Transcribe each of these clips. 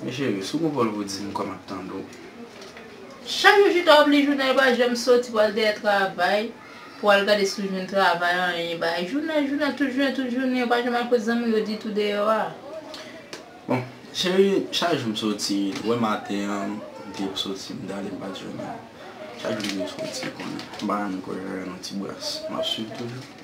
Mes chérie sou gon volvo dim kòm ap tande w. Chak jou chita wap li jounal pa janm soti pwal dèyè travay pou al gade si w jwenn travay anyen bagay jounal jounal tout jounen tout jounen yo pa janm al kot zanmi w yo ditou deyò a. Bon chérie chak jou m soti wè maten an m te soti m t ale m pat jwenn anyen chak jou m soti kounye m pa janm kwè m jwenn yon ti bras map swiv toujou.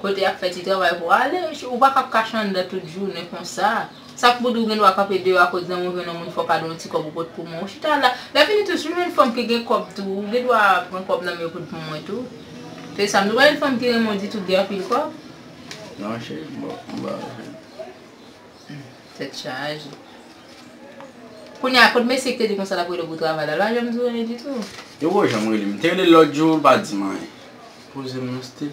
Kote y ap fè ti travay pou ale. Ou pa kab kache anndan tout jounen konsa. Sa k pou di ou gen dwa kanpe deyò akoz zanmi w jwenn yon moun fò w ka don yon ti kòb ou pot pou mwen. Ou chita la. Lèfini tou si w jwenn fanm ki gen kòb tou, ou gen dwa pran kòb nan men yo pot pou mwen tou. Se sa m di. Ou pa jwenn fanm ki renmen w ditou k gen anpil kòb. Non cheri, m pa jwenn. Tèt chaje. Kounye a, kot mesye k te di w konsa l ap rele w pou travay la? L pa janm di w anyen ditou? Yo poko janm rele m. M te rele l lòt jou, l pa di m anyen. Poze m yon stil.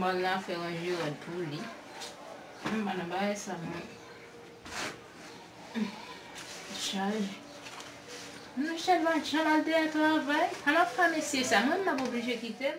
Mòn la fè ranje rad pou li. M pa nan bagay sa mwen. Chal. Nan chal va chal al te al travay. An ap fè mesye sa. Mwen m ap oblije kite l.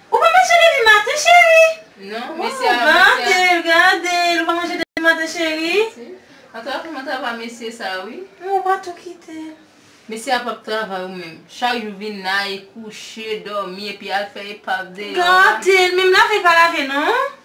Ou pa manje depi maten cheri. Non mesye a mwen se a. Gadel gadel ou pa manje depi maten cheri. Antouka kouman travay mesye sa wi. M'en ou pa tou kitel. Mesye a pap travay ou menm. Chak jou vin la e kouche, domi epi al fè epav deyò a. Gadel menm lave li pa lave non.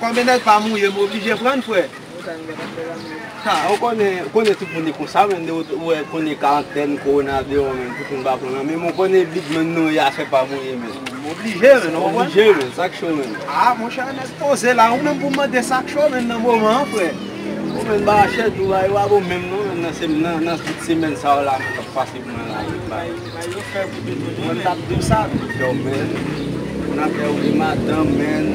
Konbyen nèg pa mouye m oblije prann frè. Ou konnen ou konnen tout moun e konsa menn de ou wè konnen karantèn korona deyò menn tout moun pa pran nan menm ou konnen bid menn nou ye afè pa mouye menn. M oblije menn ou konprann. Oblije menn sak cho menn. A monchè nèg poze la ou menm pou mande sak cho menn nan moman an frè. Ou menn ba chè tou a yo pa bon menm non menn nan semèn sa yo la menn kap pase pou mwen la menn. Mwen tap diw sa tou freo men moun afè ou gen madanm menn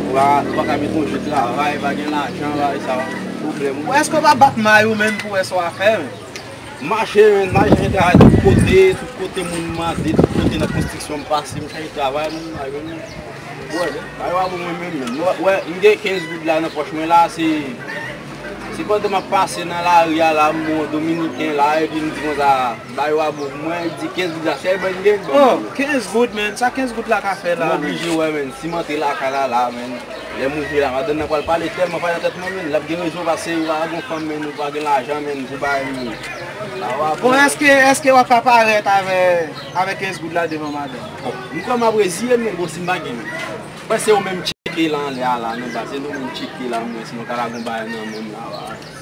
ou paka gen konje travay pa gen lajan bagay sa yo pwoblèm ou èske ou pa bat may ou menn pou wè sa wap fè menn. M mache menn m al chache travay tout kote tout kote moun mande tout kote nan konstriksyon m pase m chache travay menn m pa jwenn anyen m wè bagay yo pa bon mwen menm menn m wè m gen 15 goud la nan pòch mwen la se se pandan map pase nan lari a la m wè yon dominiken la epi m di konsa. Ba yo a bro mwen di 15 goud la fè ban gen ban mwen. Oh 15 goud man sa 15 goud la ka fè la. M oblije wè man si m antre lakay la la man lè m ouvri la madanm nan pral pale tèlman pale nan tèt mwen man lap gen rezon pase ou pa gon fanm man ou pa gen lajan man pou bay man Ba yo a bro. Bon eske eske wap ka parèt avè avè 15 goud la devan madanm. Bon m kwè map reziye m man bon si m pa gen man Mwen se ou menm m tcheke lan lè a la nan baz se nou menm m tcheke la mwen si nou ka la gon bagay nan men m la a.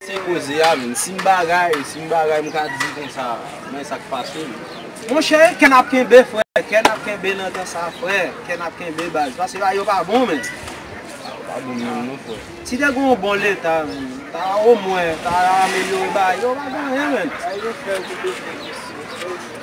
Se koze a menm. Si m bagay, si m bagay m ka di konsa men sa k pase m. Monchè kè n ap kenbe frè, kè n ap kenbe nan tan sa frè, kè n ap kenbe baz. Pase bagay yo pa bon menm. Bagay yo pa bon menm non frè. Si te gen yon bon leta menm, ta omwen ta amelyore bagay yo pa gen anyen menm. Sa yo fè yo te bezwen mesye.